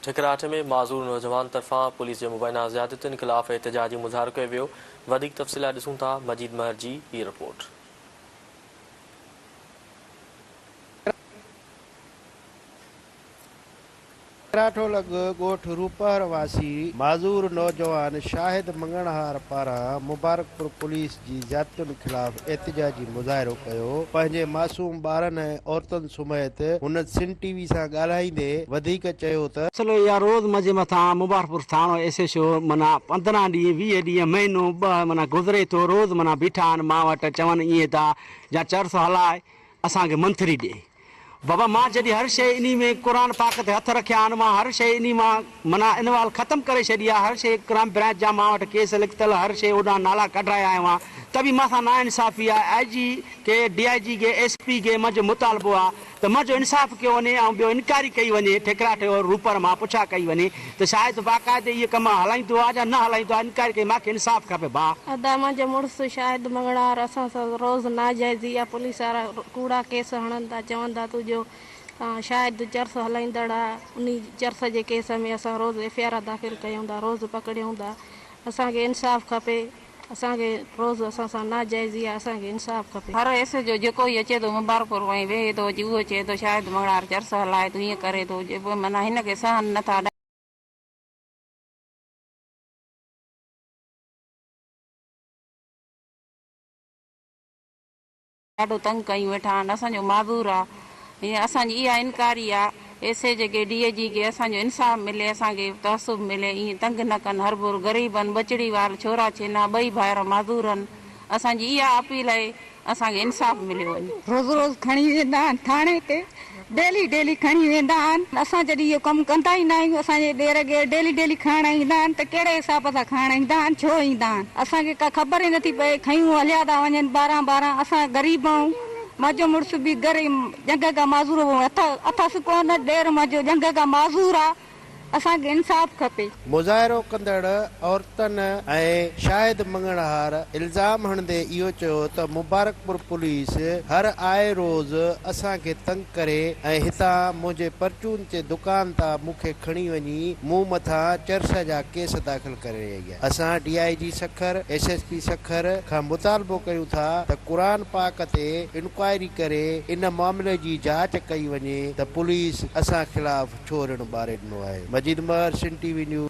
ٺڪراٺ ۾ معذور نوجوان طرفان پوليس جي مبينا زيادتين خلاف احتجاجي مظاهرو ڪيو ويو وڌيڪ تفصيل لاء ڏسون ٿا مجيد مهر جي هي رپورٽ. ٺڪراٺ لڳ ڳوٺ روپهر واسي معذور نوجوان شاهد مڱڻهار پاران مبارڪپور پوليس جي زيادتين خلاف احتجاجي مظاهرو ڪيو پنهنجي معصوم ٻارن ۽ عورتن سميت هن سن ٽي وي سان ڳالهائيندي وڌيڪ چيو ته. سلو يا روز مجي مٿان مبارڪپور ٿاڻو ايس ايڇ او منا پندرهن ڏينهن ويهه ڏينهن مهينو ٻه منا گذري ٿو روز منا بيٺا آهن مان وٽ چون ائين ٿا جا چرس هلائي اسان کي منٿري ڏي بابا مان جڏهن هر شيء انهي ۾ قرآن پاڪ تي هٿ رکيا آهن مان هر شيء انهي مان منا انوال ختم ڪري ڇڏي آ هر شيء ڪرائم برانچ جا مان وٽ ڪيس لکتل هر شيء اوڏانهن نالا ڪڍرايا آهي وان ته به مان سان نا انصافي آ آئي جي کي ڊي آئي جي کي ايس پي کي منهنجو مطالبو آ ته منهنجو انصاف ڪيو وڃي ۽ ٻيو انڪوائري ڪئي وڃي ٺيڪراٺ اور روپر مان پڇا ڪئي وڃي ته شايد باقاعدي اهي ڪم هلائيندو آ جا نه هلائيندو آ انڪوائري ڪري ماکي انصاف کپي ڀاء. ادا منهنجو مڙس شاهد مڱڻهار اسان سان روز ناجائزي يا پوليس وارا ڪوڙا ڪيس هڻندا چوندا تو جو تان شاهد چرس هلائيندڙ آ انهي چرس جي ڪيس ۾ اسان روز ايف آر داخل ڪيوندا روز پڪڙيوندا اسان کي انصاف کپي. اسان کي روز اسان سان ناجائزي آ اسان کي انصاف کپي. هر ايس ايڇ او جيڪو ئي اچي ٿو مبارڪپور وڃي ويهي ٿو اچي اهو چئي ٿو شاهد مڱڻهار چرس هلائي ٿو هيئن ڪري ٿو جي معنيٰ هن کي سهن نه ٿا ڏاڍو تنگ ڪيون ويٺا آھن اسان جو معذور آ ھي اسان جي اھا انڪاري آ اي سي جي کي ڊي اي جي کي اسان جو انصاف ملي اسان کي تعصب ملي ايئن تنگ نه ڪن ھربھر غريبن ٻچڙي وار ڇورا ڇينا ٻئي ڀائر معذورن اسان جي اھا اپيل اھي اسان کي انصاف مليو وڃي. روز روز کڻي ويندا آھن ٿاڻي تي. ڊيلي ڊيلي کڻي ويندا آهن اسان جڏهن اهو ڪم ڪندا ئي ناهيون اسان جي ڏير گير ڊيلي ڊيلي کڻڻ ايندا آهن ته ڪهڙي حساب سان کڻڻ ايندا آهن ڇو ايندا آهن اسان کي ڪا خبر ئي نٿي پئي کنيون هليا ٿا وڃن ٻارهن ٻارهن اسان غريب آهون منهنجو مڙس به گهر ڄنگهه کان معذور اٿس ڪونه ڏير منهنجو ڄنگهه کان معذور آهي اسان کي انصاف کپي. مظاهرو ڪندڙ عورتن ۽ شاهد مڱڻهار الزام هڻندي اهو چيو ته مبارڪپور پوليس هر آء روز اسان کي تنگ ڪري ۽ هتان منهنجي پرچون تي دڪان تان مون کي کڻي وڃي مون مٿان چرس جا ڪيس داخل ڪري رهي آهي اسان D I G Sukkur S S P Sukkur کان مطالبو ڪيون ٿا ته قرآن پاڪ تي انڪوائري ڪري ان معاملي جي جاچ ڪئي وڃي ته پوليس اسان خلاف ڇو رڻ ٻاري ڏنو آهي؟ Majid Maher Sindh T V news.